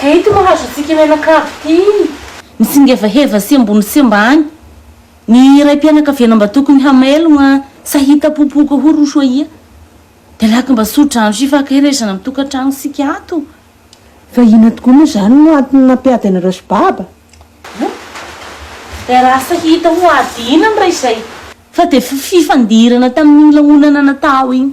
Ka ito no hahazoantsika io menaka avo ity. Misingevaheva sy ambony sy ambany ny raim-pianakaviana mba tokony hamailogna sa hitapopoka hoy ry Soahia. Dia laky mba soa-drano sy hifankaherezana amin'ny tokantrano isika ato. Fa inona tokoa moa izany no antony nampiady anareo sy Baba? Hum? Dia rasa hita ho ady inona raha izay? Fa dia fifandirana tamin'iny lanonana natao iny.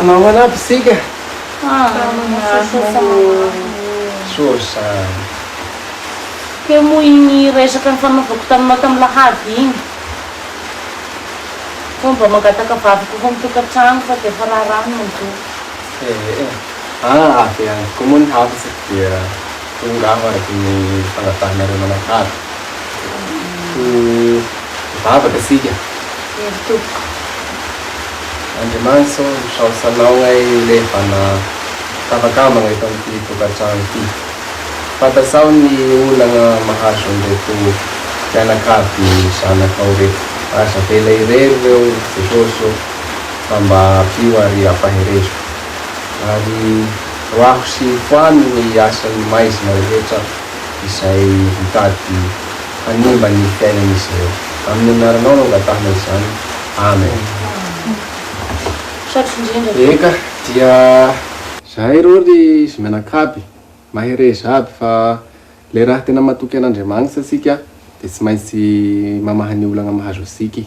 Namana aby isika. Source. Teo moa iny resaka nifanaovako taminao tamin'ny lahady iny. Sao mba mangataka vady kokoa amin'ny tokantrano fa dia efa raharaha ny mandoa. Ee, ah avy any koa moa ny hafatra dia. Tonga aho araka ny fanabahanareo manakalo. Ho mivavaka isika. Eny tompoko. Andriamanitra ô, misaotra Anao ay olehivana tafakambana eto amin'ity tokantrano ity. Fantatrao ny olana mahazo an'ireto mpianakavy zanakao reto. Aza avela irery ireo Jesosy ô, fa mba ampio ary ampaherezo. Ary. Roahiko sy foano ny asan'ny maizina rehetra izay mitady hanimba ny fiainan'izy ireo. Amin'ny anaranao no angatahana izany. Amen. Eka, dia. Zahay reo ry zmianakaby, mahereza aby fa le raha tena matoky an'Andriamanitsa tsika de tsy maintsy mamaha ny olagna mahazo atsika i.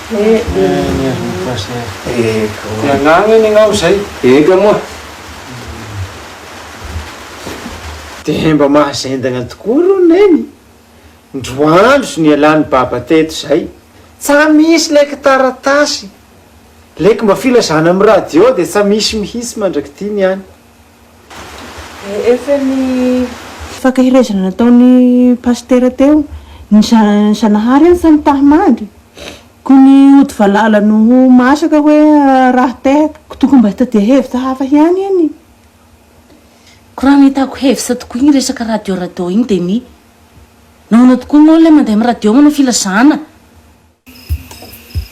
Dia mba mahazendagna tokoa rô Neny, ndro andro nialan'i Baba teto zay, tsa misy lé kitaratasy, lé kmba filazana am radio dia tsa misy mihitsy mandrak'ity ny any. Efa ny. Fankaherezana nataon'i Pasitera teo, ny Zanahary any fa ny taha mandry, koa ny ody valala no ho masaka hoe raha tehaka, koa tokony mba hitadia hevitra hafa hiany iny. Koa raha nahitako hevitra tokoa iny resaka radio radio iny dia ny, nahoana tokoa ianao ilay mandeha amin'ny radio manao filazana?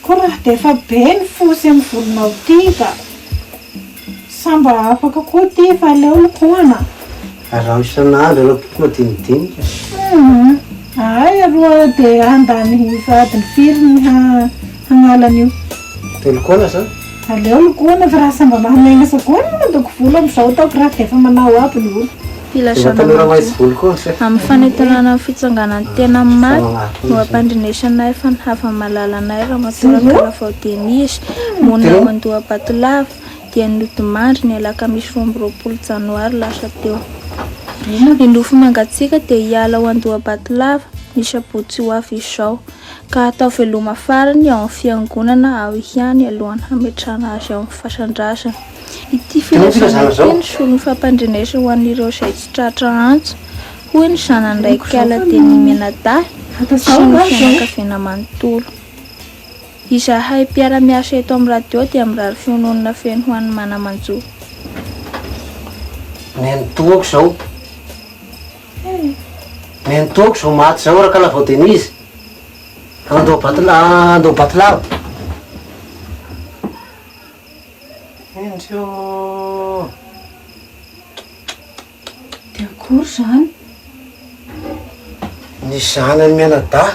Ko raha defa be ny fo sy ny volonao ty ka! Sa mba afaka koa ty fa aleo lokohana? Araho isan'andro ireo boky madinidinika. Humm! Ahay aroa dia handany adiny firy ny hagnala an'io? Telo koana sa? Aleo lokohana fa raha sambamahamenasa koa ny mandoko volo amin'izao ataoko raha defa manao aby ny olo. Filazana matoa amin'ny fanentanana ny fitsanganan'ny tena amin'ny maty no ampandrenesany nahay fa ny havany malala nahay Ramatoa Rakaravao Denise, monina ao Andohabatolava, dia nodimandry ny alakamisy roa amby roapolo janoary lasa teo. Ny nofy mangatsiaka dia hiala ao Andohabatolava, ny sabotsy ho avy izao. ka hatao veloma farany ao amin'ny Fiangonana ao ihany alohan'ny hametrahana azy ao amin'ny fasan-drazana. Ity filazana ity no solon'ny fampandrenesana ho an'ireo izay tsy tratra antso, hoy ny zanany iray kala dia ny mianadahy sy ny fianakaviana manontolo. Izahay mpiara-miasa eto amin'ny radio dia mirary fiononana feno ho an'i Manamanjo. Nenitoako izao. Neny toky zao maty zao Rakanavao Denise andao Batolalava. De akory zany? Ny zanany mianadahy.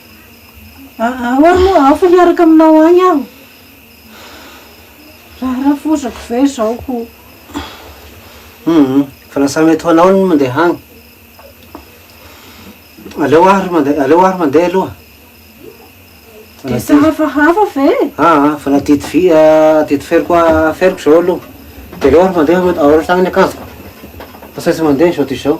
Ahoana moa aho fa miaraka aminao agny aho? Raharafozako ve izao ko? Humm, fa lasa mety ho anao ny mandeha agny. Aleo aho ry mandeha, aleo aho ry mandeha aloha. Dia tsy hafahafa ve? Aa, fa na didy vy, didy feroko aferiko izao aloha. Dia aleo aho ry mandeha, aoritra agny ny akanjoko. Fa tsy maintsy mandeha izao dia izao.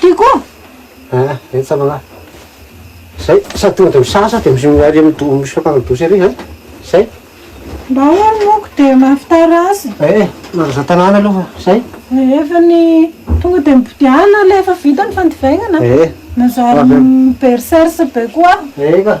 Ty koa? Ah, eny sa manahy. Zay, sady tonga dia misasa dia mi- ary mido- misoka any douche ery zany. Zay. Mba ahoana ny moka dia mahavitara azy? Eh, mandraza tanàna aloha fa zay. Rehefa ny tonga dia mibodiana ilay efa vita ny fandivaingana. Eh, Manjary Avy am- mi-berserse be koa aho. eh ka.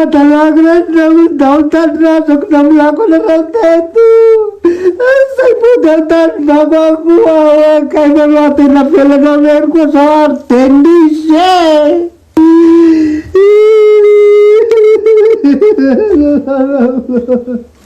Adalako reto na ho ndao tany rajako na milako anareo teto Zay mody ao tany vako ako ao akay na roa tena velana rery koa zao ary Denise e